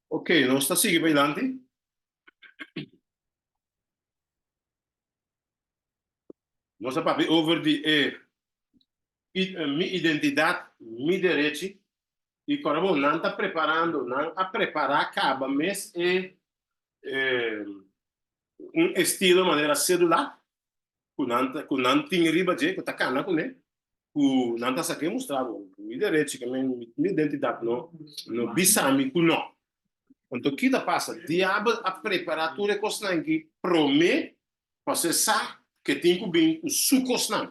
Ok, nos ta sigui p'eilanti. Nos a papia over di e mi identidad, mi derechi, y ora bo nan ta preparando, nan a prepara caba mes e un estilo manera cedular, ku nan ta ku nan tin riba dje ku ta kana kuné ku nan ta sak'é mustra bo mi derechi ke men mi identidat no no bisa mi ku no anto ki ta pasa diabel a prepara tur e kosnan ki promé pa se sa ke tin ku bin ku su kosnan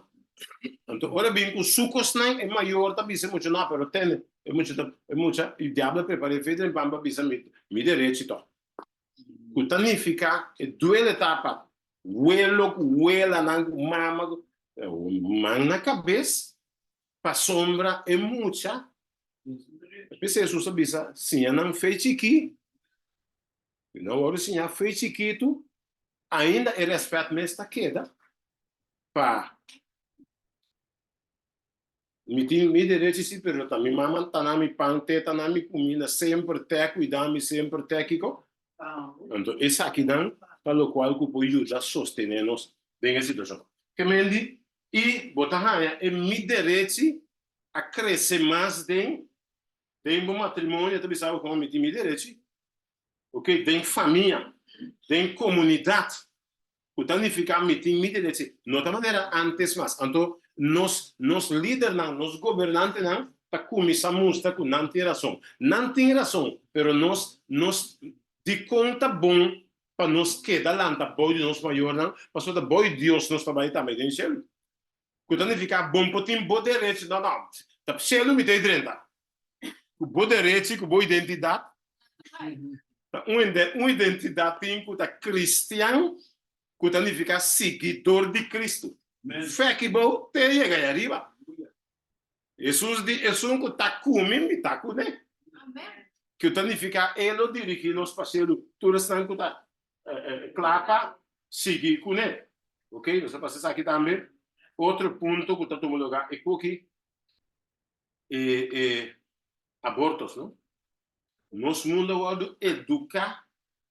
anto ora bin ku su kosnan e mayor ta bisa e mucha no pero tende e mucha ta e mucha i diabel a prepar'é fei den pan pa bisa mi mi derechi to. ku ta nifiká e duele ta pa welo ku welanan ku mama ku man na kabes pasobra e mucha p'esei Hesus a bisa siña nan fe chikí i nan wòrdu siña fe chikitu ainda e rèspèt mes ta keda pa Mi tin mi derechi si pero ta mi mama ta na mi pan teta na mi kumina semper te kuida mi semper te kiko anto esaki nan ta lokual ku por yuda sostene nos den e situashon kemendi i bo ta haña e mi derechi a krese mas den den bo matrimonio ta bisa bo kuma mi tin mi derechi ok den famia den comunidad cu ta nifica mi tin mi derechi no ta manera antes mas anto nos nos lidernan nos gobernantenan ta cuminsa mustra cu nan tin rason nan tin rason pero nos nos dicon ta bon pa nos keda lanta boy di nos mayornan pasobra ta boy Dios nos ta bay tambe den cielo. ku ta nifiká bon por tin bo derechi no no ta pseudo mi ta e drenta ku bo derechi ku bo identidat ta un un identidat tin ku ta kristian ku ta nifiká siguidor di Kristu fè ki bo te yega ai ariba Hesus di esun ku ta ku mi mi ta ku ne ku ta nifiká e lo dirigí nos pa selu tur esnan ku ta placa sigui cune ok nos a pasa esaki tambe otro punto cu ta tuma luga e coki e e abortos no nos mundo awor lo educa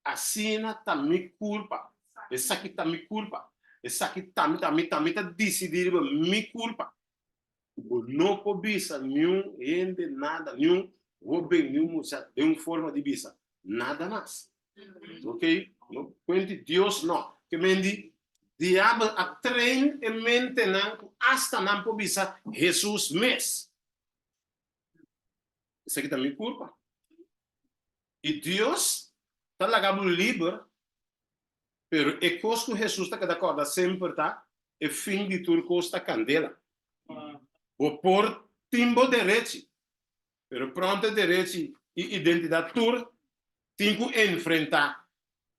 asina ta mi culpa esaki ta mi culpa esaki ta mi ta mi ta mi ta dicidi riba mi culpa ku bo no por bisa niun hende nada, niun hóben, niun muchach den un forma di bisa nada mas. Oke, no kuenti Dios nò. Ke men di Diabel a trein e mentenan ku asta nan por bisa Hesus mes, Esaki ta mi kurpa. I Dios ta laga bo liber, pero e kos ku Hesus ta keda kòrda semper ta, E fin di tur kos ta kandela. Bo por tin bo derechi, pero pront e derechi i identidat tur tin ku enfrentá.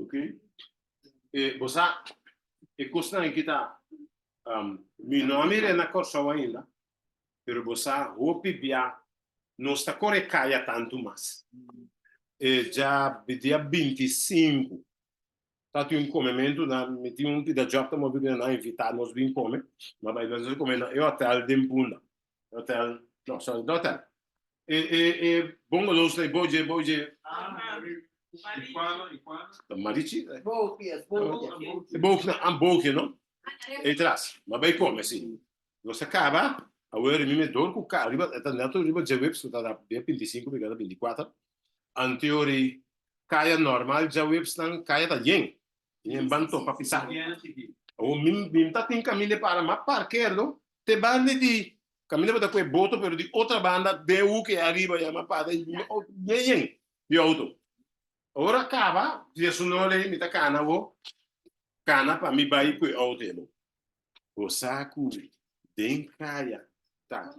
Ok. E bo sa, e kosnan aki ta, um, mi no a mir'e na Kòrsou ainda, pero bo sa hopi bia nos ta kore kaya tantu mas. E dja dia binti sinku ta tin un comementu na mi tin un pida job ta mobi cu nan a invita nos bin come ma bay nos a come na e hotel den bunda e hotel no sorry no hotel e e e bungalows na e boot dje boot dje marichi e boot na an boke no e tras ma bay come si nos a caba awe rimimi dor cu ca riba e ta neto riba dje wip so ta da bia binti sinku mi keda binti kuater Antiuri kaya normal djaweepsnan kaya ta yen y men ban topa pisá. Awor mi mi ta tin Camille para mas parkeerdo te banda di Camille bo ta cu e boto pero di otra banda den hoek e ariba ya mas para y mi auto bien yen di auto. Awor a caba, Diasunol ey mi ta cana bo cana pa mi bay cu e auto ey bo. Bo sa cu den caya ta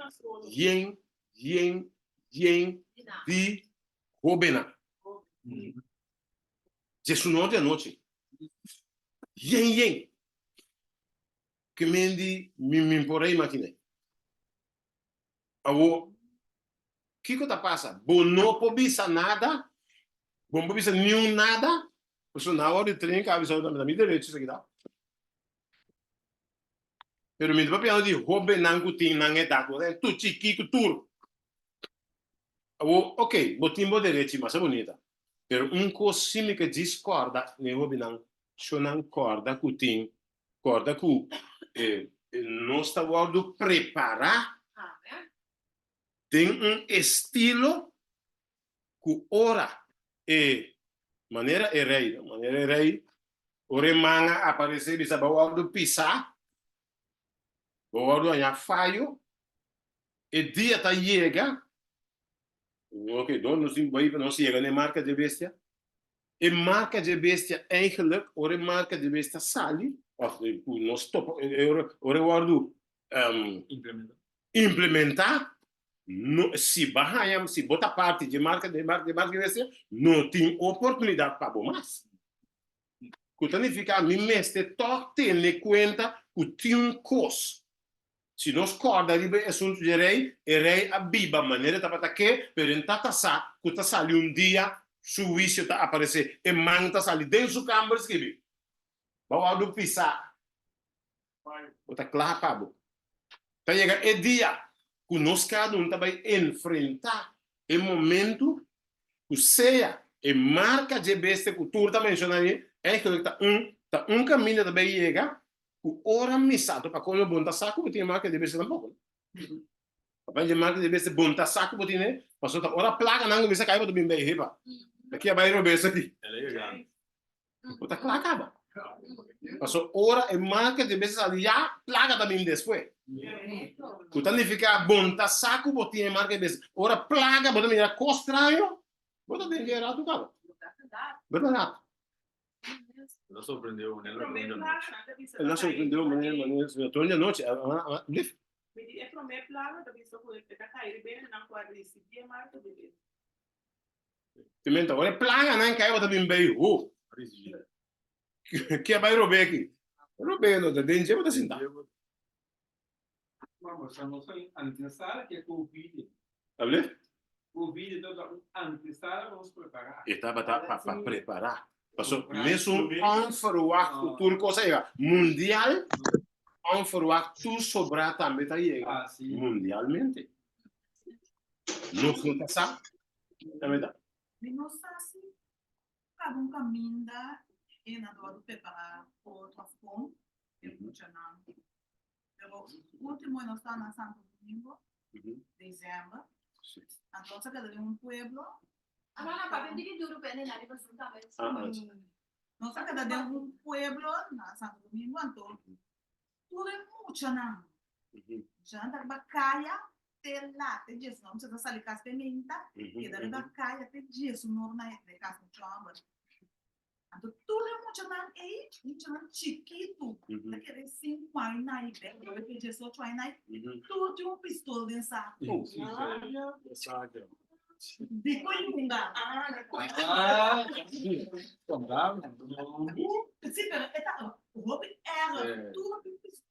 yen, yen, yen di hobennan. Diesunor di anochi, yen, yen, ke men di min, min por a imaginé. Awor, kico ta pasa? Bo no por bisa nada, bo no por bisa niun nada, pasobra na awor di trinca a bisa bo, mi ta mira derecho esaki ta. Pero mi ta papiando di hobennan ku tin nan edat, bo ta den tur chikí ku tur. Awor, oke, bo tin bo derechi, masa bunita. Pero un kos si mi ke djis kòrda na e hobennan, shò nan kòrda ku tin, kòrda ku e nos ta wòrdu prepará den un estilo ku ora e manera e rei, manera e rei, ora e manga aparesé bisa bo wordu pisá, bo wordu hañá fayo, e dia ta yega, oke dor nos tin bai pa nos yega na e marka dje bestia, e marka dje bestia eigenlik ora e marka dje bestia sali òf ku nos topa ora e wordu implementá no si ba haña si bo ta parti dje marka dje marka dje marka dje bestia no tin oportunidat pa bo mas cu ta nifica mi mester tok tene cuenta cu tin un cos si nos corda riba e asunto dje rey e rey a biba manera e tabata ke pero en ta tasa cu ta sali un dia su huicio ta aparece e man ta sali den su camber scribi ba wou do pisa bo ta kla pa bo. Ta yega e dia ku nos kada un ta bai enfrentá e momentu ku sea e marka dje bestia ku tur ta menshoná aye, èigelik ta un ta un kaminda ta bai yega ku ora misato. Pa kolmo bo no ta sa ku bo tin e marka dje bestia tampoko no. Papia dje marka dje bestia bo no ta sa ku bo tin e pasobra ta ora plaganan kuminsá kai bo ta bin bai heba, ta kia bai robes aki. Bo ta kla kaba. Paso ora e manke de bes sali ya, plaka ta bin despues. Ku ta nifiká bon ta sa ku bo tin e manke bes. Ora plaka bo ta mira kos straño, bo ta den ku e ratu kaba. Bo ta ratu. El a sorprendé bo manera rònt di anochi. El a sorprendé bo manera rònt di anochi. Blif. Mi di e promé plaka ta bisa ku e ta kai riba e nan ku a risibí e manke de bes. Te menta, ora e planga nan kai bo ta bin bay ho. Kia bay robé aki? Robé no ta den dje bo ta sinta. Tablet? E tabata pa prepará. Paso, mes un onverwacht ku tur kos a yega mundial, onverwacht tur sobrá tambe ta yega mundialmente. Nos no ta sa, ta bida? Mi no sa si kada un kaminda e na dor di prepará otro, òf kon e mucha nan. Pero ultimo nos ta na Santo Domingo, december. Sí. Anto sa keda un pueblo. Ano na pa bem digi duro pende na riba zunta met. Nos sa keda de un pueblo na Santo Domingo anto. Tudo é mucha na. Já anda riba caia te lá te Jesus não precisa sair casa pimenta. Keda riba caia te Jesus não na de casa no chamba. Anto tur e muchanan ei, muchanan chikitu, ta kere sinku aña i bek, lo loke diesocho aña i, tur tin un pistol den sak. Diko e lunga? Si, pero e tabata hopi ègè, tur tin un pistol.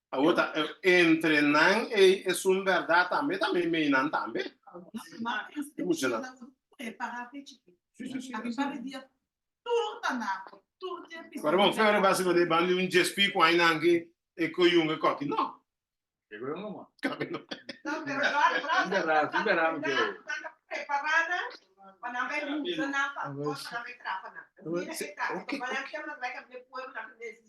Awor ta e, entre nan ei esun berdad tambe, ta mei mei nan tambe. E muchanan. Si, si, si. Pero bon, fe ora basi bende bandi un JSP ku ai nan ki e ko yunga koki. No. Kabe no.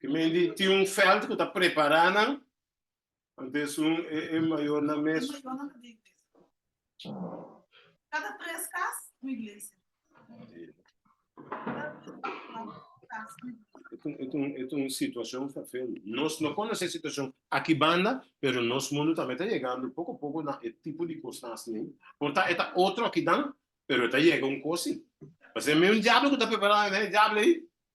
Ki men di tin un veld ku ta prepará nan, ante esun e e mayornan mes. Kada tres kas un iglesia. Et un, et un, et un situashon vervelend. Nos no konosé e situashon aki banda, pero nos mundu tambe ta yegando poko poko na e tipo di kosnan asina. Por ta e ta otro akidan, pero e ta yega un kosin. Pasobra mi un diablo ku ta prepará nan, e diablo ei.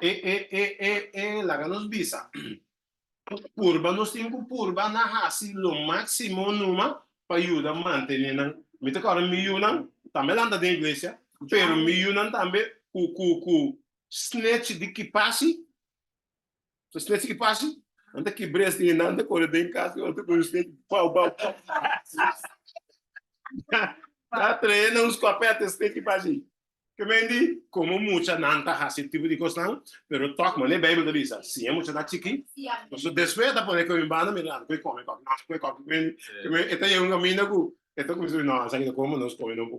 E e e e e laga nos bisa purba nos tin cu purba na hasi lo maximo numa pa yuda mantene nan mi ta kora mi yu nan tambe lanta den iglesia pero mi yu nan tambe cu cu cu snatch di kipasi So snake si pasi, nan ta kibr'é así i nan ta kore den kas i ora ta kore snake bau bau ta trae nan un skopet e snake pasi. Ke men di komo mucha nan ta hasi e tipo di kos nan, pero tok manera e Beibel ta bisa, si e mucha ta chikí, pasobra despues e ta pone koe banda mira nan ta kore kòmè kòmè, nan ta kore kòmè, ke men di, ke men e ta yega un kaminda ku e ta kuminsá di no, esaki ta kòmè, nos kòmè nompu.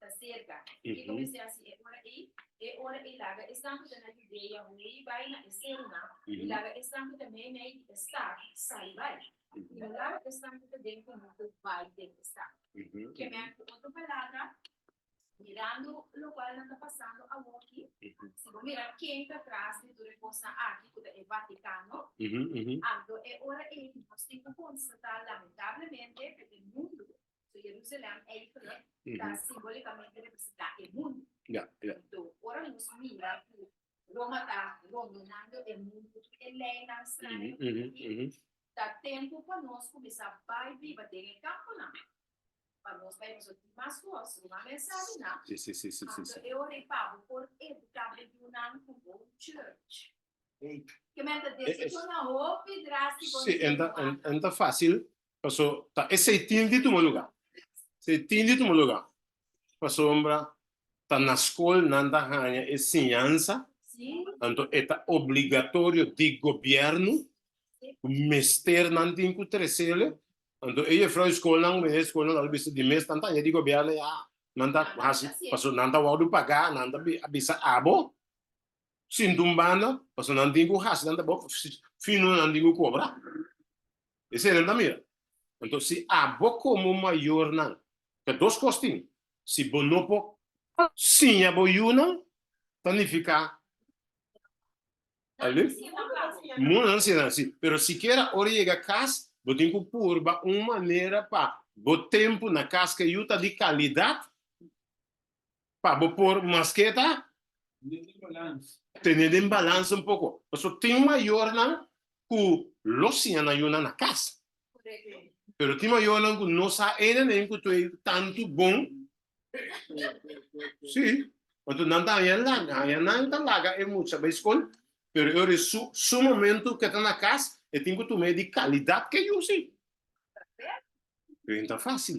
ta serka. Ki ta mester hasi e ora ei? E ora ei laga esnan ku ta na Judea huei bai na e serunan, i laga esnan ku ta meimei di e stat sai bai. I lo laga esnan ku ta den komunte bai den e stat. Ke men ku otro palabra, mirando lokual nan ta pasando awoki, si bo mira ken ta tras di tur e kosnan aki, ku ta e Vatikano, anto e ora ei nos tin ku konstatá lamentablemente ku e mundu So Jerusalem ei ku e ta simbolikamente representá e mundu. Ya, ya. Anto ora nos mira ku Roma ta rondonando e mundu ku tur e leinan straño ku ta aki, ta tempu pa nos kuminsá bai biba den e kamponan pa nos bai pasobra mas ku os ruman mensadi nan. Si, si, si, si, si, Anto si. e ora ei pa bo por eduká bo yunan ku bo church. Ke men ta desechá nan hopi drástiko. Si, e no ta, e no ta fásil Paso ta e seitin di tuma luga. Seitin di tuma luga. Pasobra ta na skol nan ta haña e siñansa, anto e ta obligatorio di gobièrnu ku mester nan tin ku tresele. Anto e jefrou i skolnan, ku e skolnan lo bisa di mes nan ta haña di gobièrnu, ya nan ta hasi, paso nan ta wòrdu pagá, nan ta bisa abo. sin dun banda, pasobra nan tin ku hasi tanta bo fino nan tin ku kobra. Esei nan ta mira. Anto si abo komo mayornan, ta dos kos tin, si bo no por siña bo yunan, ta nifiká, tal bes, munan nan siña nan si, pero sikiera ora e yega kas, bo tin ku purba un manera pa bo tempu na kas ku e yu ta di kalidat, pa bo por mas ke ta tene den balans un poko pasobra tin mayornan ku lo siña nan yunan na kas pero tin mayornan ku no sa ene men ku to'e tantu bon si anto nan ta haña laga haña nan ta laga e mucha bai skol pero e ora su su momento ke ta na kas e tin ku tume di kalidat ke yusi pero no ta fasil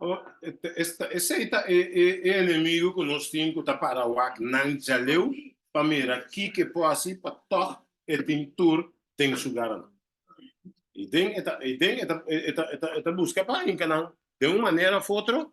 Oh, esta, ese ta e, e, e enemigo que nos tin que ta para wak nan jaleu pa mira ki que po así pa toch e tin tur den su garan. Y den eta, y den eta, eta, eta, eta busca pa hinca nan de un manera of otro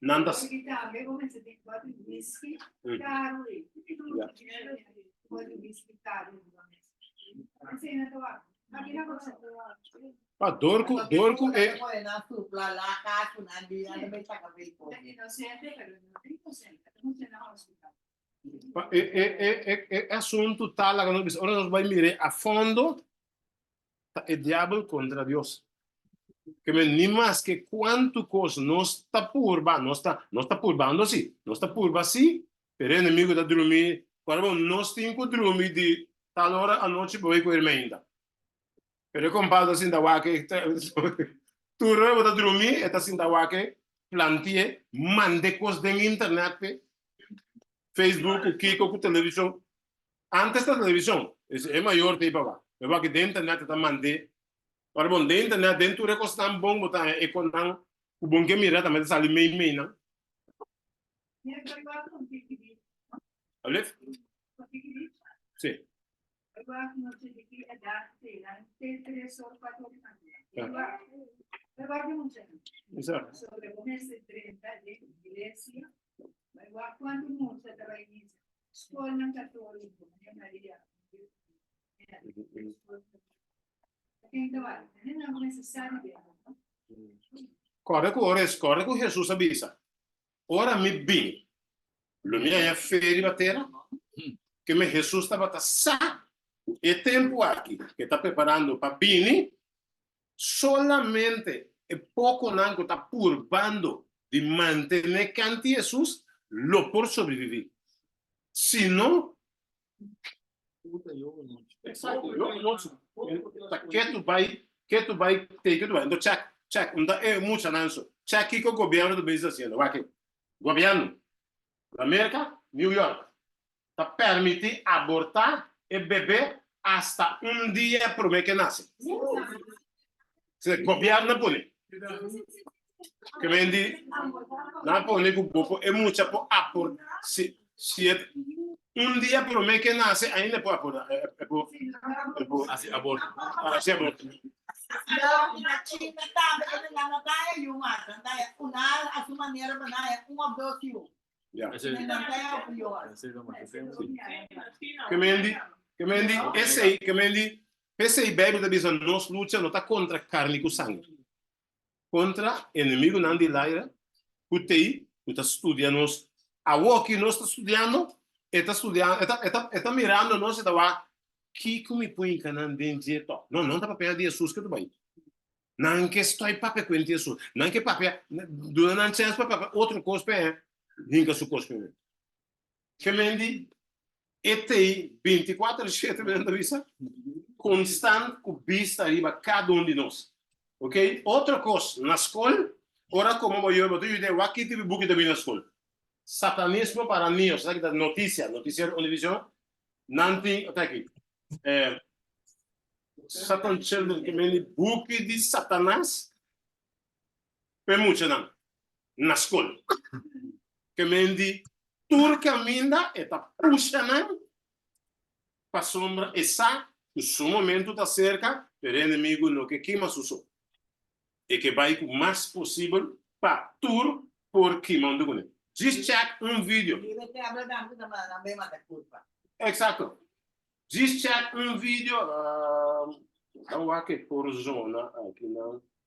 Nan ta... Dor cu, dor cu e... E asuntu ta laga nos bisa, ora nos bai mira e a fondo, ta e diabel kontra Dios. Keme ni maske kuantu kos nos ta purba, nos ta nos ta purbando si, nos ta purba si, pero e enemigu ta drumi, ora bo nos tin ku drumi di tal ora anochi bo bai ku ermeinta. Pero e kompadre ta sinta wak, tur ora bo ta drumi e ta sinta wak, plantié, mande kos den internet pe, Facebook ku kiko ku televishon, Antes ta television, es e mayor tei pa ba. E wak den internet ta mande. Ora bon den internet den tur e cosnan bon bo ta haña e conan cu bon ke mira tambe ta sali mei meinan. Albleft? Si. Exact. Skolnan katolikonan e Maria Kòrda ku ora es, kòrda ku Jesus a bisa, ora mi bin, lo mi a ya fe riba tera, ke mi Jesus tabata sa ku e tempu aki, ke ta preparando pa bini, Solamente e pokonan ku ta purbando di mantené kanti Hesus lo por sobreviví. Si no, Exacto, yo un nochi ta ketu bai, ketu bai tei ketu bai. Anto chèk, chèk, un ta e muchanan so. Chèk kiko gobièrnu ta bisa hasiendo. Wak e, gobièrnu. Na Merka, New York ta permití abortá e bebe asta un dia promé ke nase. Se gobièrnu a pone kmen di nan pone ku bo por e mucha por abor si si e un dia promé ke nase ainda e por abordá e por e por hasi aborto hasi aborto. P'esei, Bibel ta bisa nos lucha no ta contra carni cu sangre. kontra enemigunan di laira ku tei ku ta studia nos. Awor ki nos ta studiando, e ta studiando, e ta, e ta, e ta mirando nos, e ta wak, Kiko mi pui hinka nan den dje tò? No, nan ta papia di Hesus ke ta bai. Nan ke stòi papia kuent di Hesus. Nan ke papia, duna nan chèns pa papia otro kos p'e hinka su kos ku mi. Kemen di e tei binti kuater shete mi nan ta bisa, konstant ku bista riba kada un di nos. Ok, otro kos, na skol, ora komo bo yue bo ta yuda e wak kiti bibuki ta bini na skol. Satanismo para mi, esaki ta notisia, notisiero Univision, nan tin, ota aki, Satan Children, kemen di buki di Satanas, p'e muchanan na skol. Ke men di tur kaminda e ta pusha nan pasobra e sa ku su momentu ta serka, pero e enemigu no ke kima su so. E ke bai ku mas posibel pa tur por kima huntu kuné. Djis chèk un vidio. Eksakto. Djis chèk un vidio, ta wak e porzona aki nan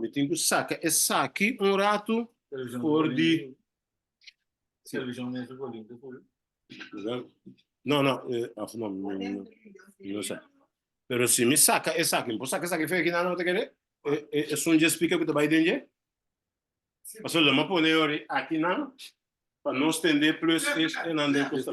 Mi tin ku saka esaki un ratu for di no no of no mi no sa pero si mi saka esaki mi por saka esaki fe kinan no ta kere esun dje spika ku ta bai den dje paso lo ma pone yori aki nan pa no stende plus e nan den ku sta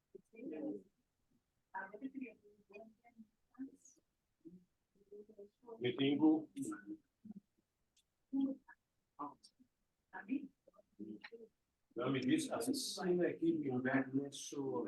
Me tengo. Ja, mi dis asesina aqui me back no so.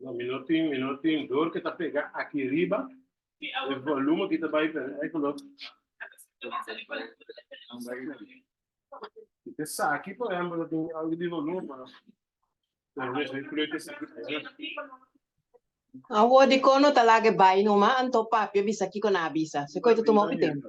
No, mi no tin, mi no tin dor ke ta pega aki riba. E volume aki ta bai per e kolor. Si te sa aki, por ehempel, ta tin algu di volume, pero por lo menos e kleur ke sa aki. Awor dikon no ta laga e bai numa, anto papi a bisa kiko nan a bisa. So koi ta tuma hopi tempu.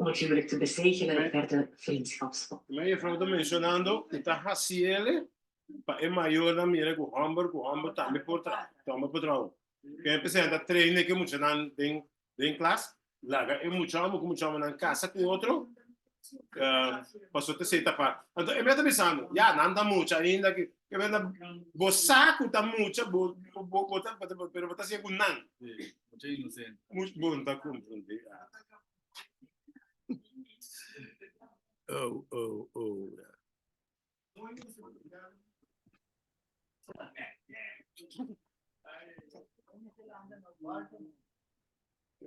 Un huwelijk te besegelen e pèrdè vriendskapsband. Kima e jefrouw ta mencionando, i ta haciele pa e mayornan mira cu homber cu homber tambe por toma por traho. Kende ta presenta train e muchanan den den klas, laga e mucha homber cu mucha hombernan casa cu otro pasobra ta esey ta fat. Anto e mira ta bisando, ya, nan ta mucha ainda aki. Ke benda bo sa cu ta mucha, bo ta haci e cu nan. Much bon ta konfundé ahh.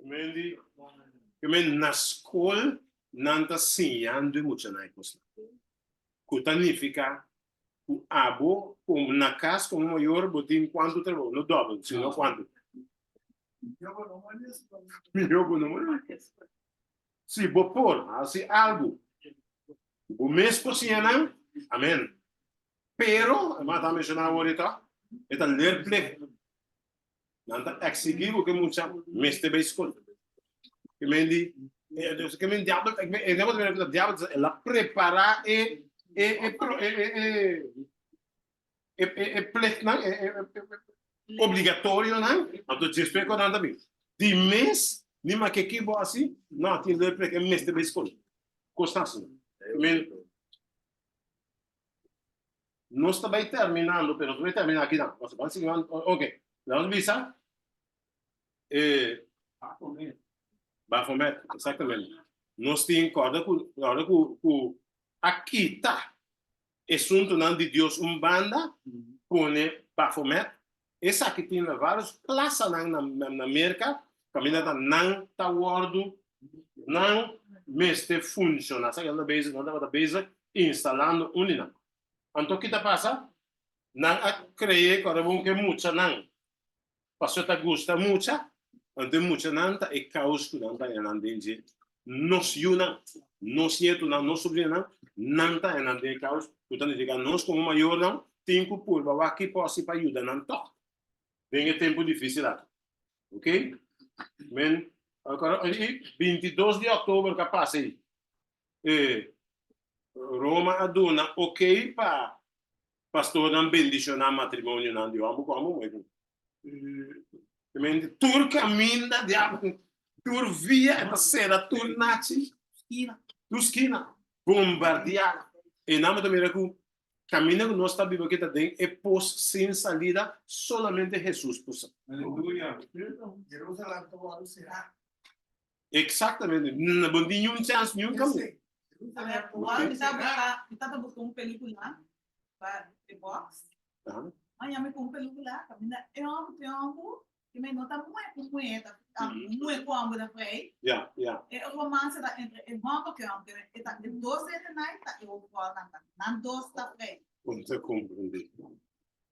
Mendi na skol nan ta siñando e muchanan e kosnan ku ta nifiká ku abo kon na kas kon mayor bo tin kuantu trabou no dobel sino kuantu minjo bo no molesto pa mi minjo bo no molesto pa mi si bo por hasi algu ku bo mes kosiña nan amen pero e mata menshoná awor e ta e ta ler plek Nan ta exigí ku ke mucha mester bai skol. Ke men di, ke men diabel, e negocio ta bira ku ta diabel ta el a prepará e e e e plichtnan, e e obligatorionan, anto dje spe ku nan ta bin. Di mes ni ma ke ki bo a hasi, nan a tinde e plicht, e mester bai skol. Kos ta hasi? Men Nos ta bai terminando, pero nos no bai terminá aki nan. Nos ta ban sigui manera. Ok, leu nos bisa. E. Baphomet. Baphomet, exactamente. Nos tin corda cu, corda cu, cu a kita e suntonan di Dios un banda, pone Baphomet Esaki tin na vários plasanan na Merka kaminda ta nan ta wòrdu nan mester funshoná. Esaki nan ta bezig, nan tabata bezig instalando un di nan. Anto ki ta pasa? Nan a kree ku a rabon ku e muchanan pasobra ta gusta mucha, anto e muchanan ta e kaus ku nan ta yanan den dje nos yunan, nos nietonan, nos sobrinanan, nan ta hennan den e kaus, ku ta nifiká nos komo mayornan tin ku purba wak por hasi pa yuda nan tòg den e tempu difísil akí. Ok? Men, i bintidos di òktober ku a pasa ei, e Roma a duna okey pa pastornan bendishoná matrimonionan di hòmber ku hòmber, muher ku muher. Primeramente, tur kaminda di Abraham, tur via e ta sera, tur nachi, tur skina bombardiá. E nan bo ta mira ku kaminda ku nos ta biba aki ta den e pos sin salida, solamente Hesus por sa. Exactamente. Bo no tin niun chance niun kaminda. A ver, awor mi ta busca, mi ta ta busca un pelicula pa The Box. Maña mi cu un pelicula caminda tiempo, tiempo y mi no ta mue cu mue, e ta mue cu ambo ta pray. E romance ta entre e mambo cu e homber, e ta e dos de ese night ta e otro cua nan ta. Nan dos ta pray. Comprende.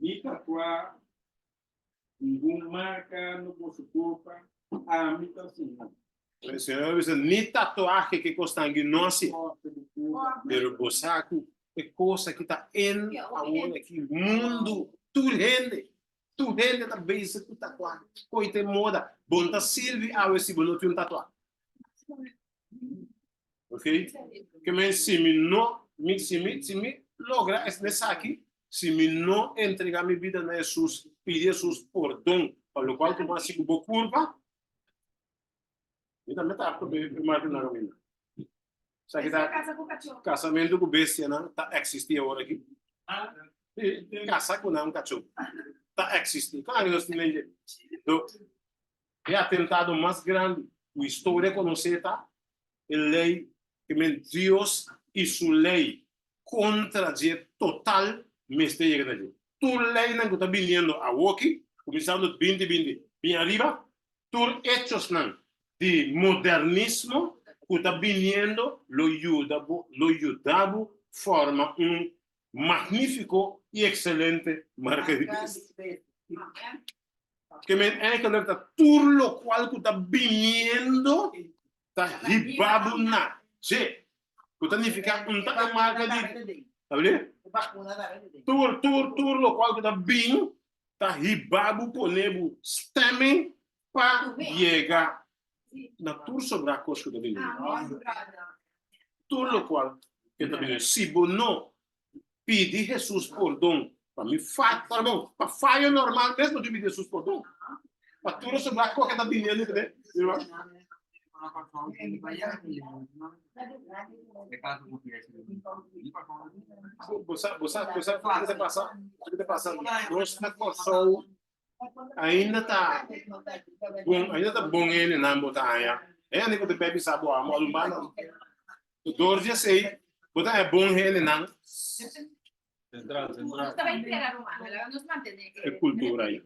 Mi tatua ningun marka no boso kurpa, ami ta Señor. El Señor a bisa, Ni tatuahe ke kos ta aki no a si, pero bo sa ku e kosa ki ta en awor aki mundu, tur hende, tur hende ta bezi ku tatuahe, koi ta e moda, bon ta sirbi awe si bo no tin un tatuahe? Ok? Que men si mi no, mi, si mi, si mi logra es nesaki, si mi no entrega mi vida na Jesus, pidi Jesus perdon, pa lo cual como así bo culpa, mi también ta apto pe primar na camino. Sa que ta casamento con bestia na ta existi ahora aquí. Casa con un cachorro. Ta existi. Claro, no tiene. E atentado mas grandi ku historia a konosé ta e lei ku men Dios i su lei kontra dje total mester yega na dje. Tur leinan ku ta biniendo awoki, kuminsando binti binti bin ariba, tur echosnan di modernismo ku ta biniendo lo yuda bo lo yuda bo forma un magnífiko i ekselente marka di besta. ke men eigenlijk ta tur lokual ku ta biniendo ta hiba bo na dje, ku ta nifiká un tak di marka di, tabele? Tur, tur, tur lokual ku ta bin ta hiba bo pone bo stemming pa yega na tur sobrá kos ku ta biniendo. Tur lokual ke ta biniendo. Si bo no pidi Hesus pordon pa mi fat pardon pa fayo normal mes no tin pidi Hesus pordon pa tur nos obra koke ta bini andi tambe bosa bosa bosa kisa ta pasa kisa ta pasa nos na Kòrsou ainda ta bon, ainda ta bon hende nan bo ta haña. Hende ku ta bebi sa bo amo alumba nan. Tu dor di esei, bo ta haña bon hende nan. Central, central. E kultura ei.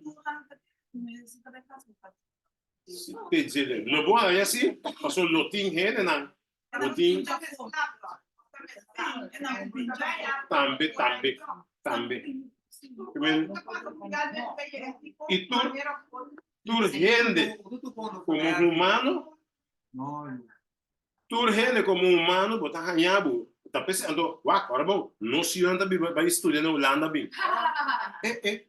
Te djele, lo bo haña si, paso lo tin hende nan bo tin tambe tambe tambe Amen. y tur tur hende como humano tur hende como humano bo ta haña bo ta pese anto wa ora bo no si yo ta biba ba estudia na Holanda bin eh eh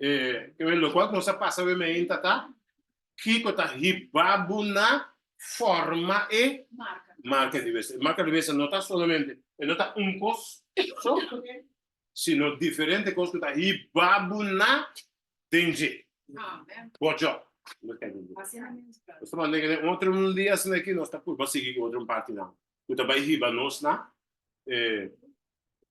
E kico locual nos a pasa we meen tata? Kico ta hiba bo na forma e marca di besta? E marca di besta no ta solamente, e no ta un cos so, sino diferente cos cu ta hiba bo na den dje, bo djo. Pasobra den e otro un dia asina aki nos ta purba sigui cu otro un partinan cu ta bay hiba nos na e.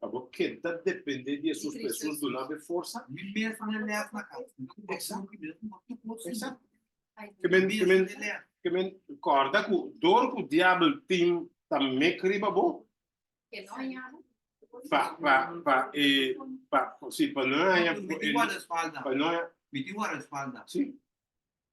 Pa bo keda depende di e sus pa e sus duna bo e forsa? Mi mesa no e lèt na kas. Mi no tin papia hopi mesa ku no tupa otro suma. Ke men ke men ke men kòrda ku dor ku diabel tin ta mek riba bo pa pa pa e pa si pa no haña pa no haña. Mi tin guardaespalda.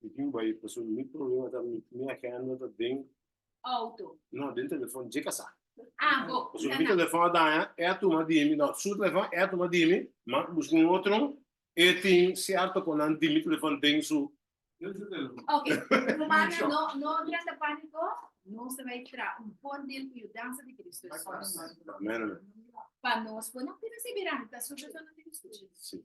Mi Cuba i paso mi problema ta mi mi agenda ta den Auto. no den telefon dje kasá. Ah, bo. Paso mi telefon a daña e a tuma di mi no su telefon e a tuma di mi ma buska un otro e tin cierto con nan di mi telefon den su Den su telefon. Okay, Romana no no drenta pánico, nos ta bai tra un bon dil cu yu danza di Cristo Jesus. Amén, amén. Pa nos, bo no pida seguirá, ta su persona di Cristo Jesus. Sí.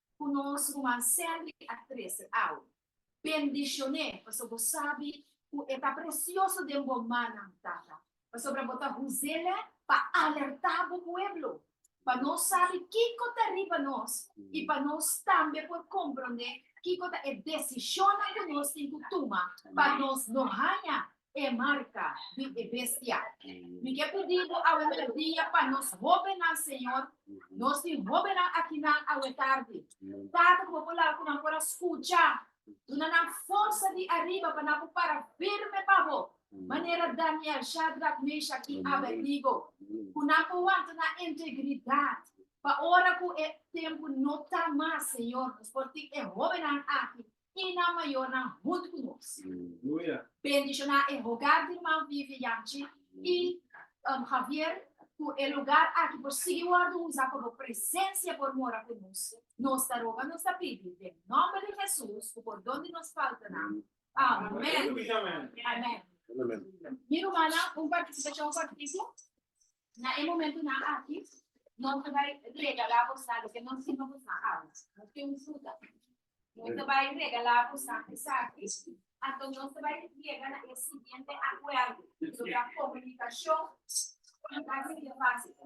ku nos ruman Cedric a trese awe. Bendishoné, paso bo sabi ku e ta presioso den bo mannan, Tata, pasobra bo ta huzel'é pa alertá bo pueblo, pa nos sabi kiko ta riba nos i pa nos tambe por komprondé kiko ta e desishonnan ku nos tin ku tuma pa nos no haña e marka di e Bestia. Mi ke pidi bo awe merdia pa nos hóbennan, Señor, nos tin hóbennan akinan awe tardi. Tata, ku Bo por laga ku nan por a skucha. Duna nan forsa di ariba pa nan ku para firme pa Bo, manera Daniel, Shadrak, Meshak i Abednego. Ku nan por wanta na integridat pa ora ku e tempu no ta mas, Señor, nos por tin e hóbennan aki i nan mayornan huntu ku nos. Bendishoná e hogar di Ruman Vivi Yanchi i Javier ku e lugar aki por sigui wòrdu usa ku bo presensia por mora ku nos. Nos ta roga, nos ta pidi den nòmber di Hesus ku por done nos faltanan. Amèn. Amen. Mi rumannan, un partisipashon kortiku. Na e momentunan aki nos ta bai regalá bosa loke nos siña bosa awa. Nos tin un fruta. Nos ta bai regalá bosa esaki. Anto nos ta bai yega na e siguiente akuerdo, ku lo ta komunikashon, komunikashon básico.